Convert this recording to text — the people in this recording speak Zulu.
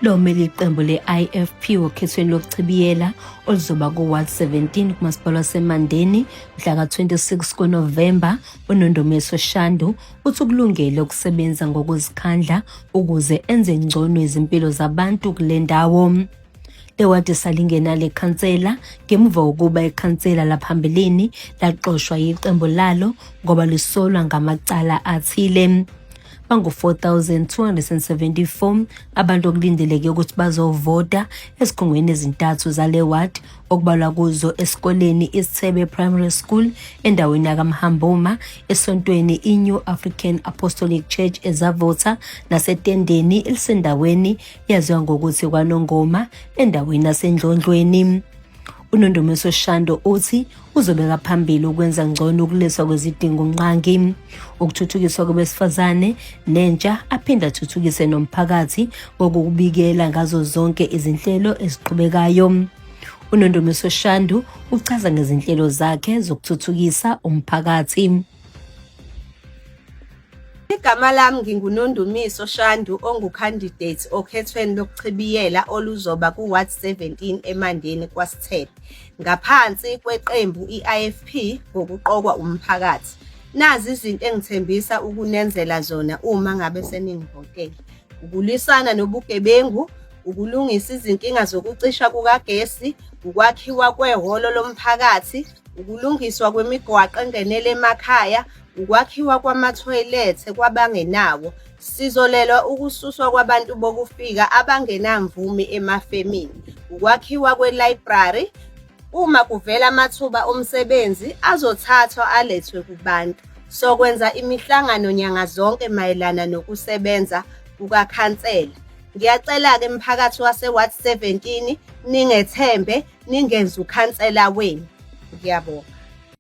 lo mele iqembu le-ifp okhethweni lokuchibiyela oluzoba ku-ward 17 kumasipala wasemandeni mhla ka-26 kunovemba unondomeso shandu uthi ukulungele ukusebenza ngokuzikhandla ukuze enze ngcono izimpilo zabantu kule ndawo Ewadi salingena le khansela ngemuva kokuba ikhansela laphambilini laxoshwa yiqembu lalo ngoba lisolwa ngamacala athile bangu-4,274 abantu okulindeleke ukuthi bazovota ezikhungweni ezintathu zale ward okubalwa kuzo esikoleni isithebe primary school endaweni yakamhamboma esontweni i-new african apostolic church ezavotha nasetendeni elisendaweni yaziwa ngokuthi kwanongoma endaweni yasendlondlweni unondumiso shando uthi uzobeka phambili ukwenza ngcono ukulethwa kwezidingo nqangi ukuthuthukiswa kwabesifazane nentsha aphinde athuthukise nomphakathi ngokubikela ngazo zonke izinhlelo eziqhubekayo unondumiso shandu uchaza ngezinhlelo zakhe zokuthuthukisa umphakathi Igama lami nginguNondumiso Shandu ongukhandidate okhethweni lokuchibiyela oluzoba ku-ward 17 eMandeni kwaSithebe ngaphansi kweqembu i-IFP ngokuqokwa umphakathi. Nazi izinto engithembisa ukunenzela zona uma ngabe seningivotele. Ukulwisana nobugebengu, ukulungisa izinkinga zokucisha kukagesi, ukwakhiwa kwehholo lomphakathi, ukulungiswa kwemigwaqo engenele emakhaya, ukwakhiwa kwamathoyilethe kwabangenawo, sizolelwa ukususwa kwabantu bokufika abangenamvume emafemini, ukwakhiwa kwelayibrari, uma kuvela amathuba omsebenzi azothathwa alethwe kubantu. Sokwenza imihlangano nyanga zonke mayelana nokusebenza kukakhansela. Ngiyacela-ke mphakathi wase-ward 17 ningethembe ningenze ukhansela wenu. Ngiyabonga.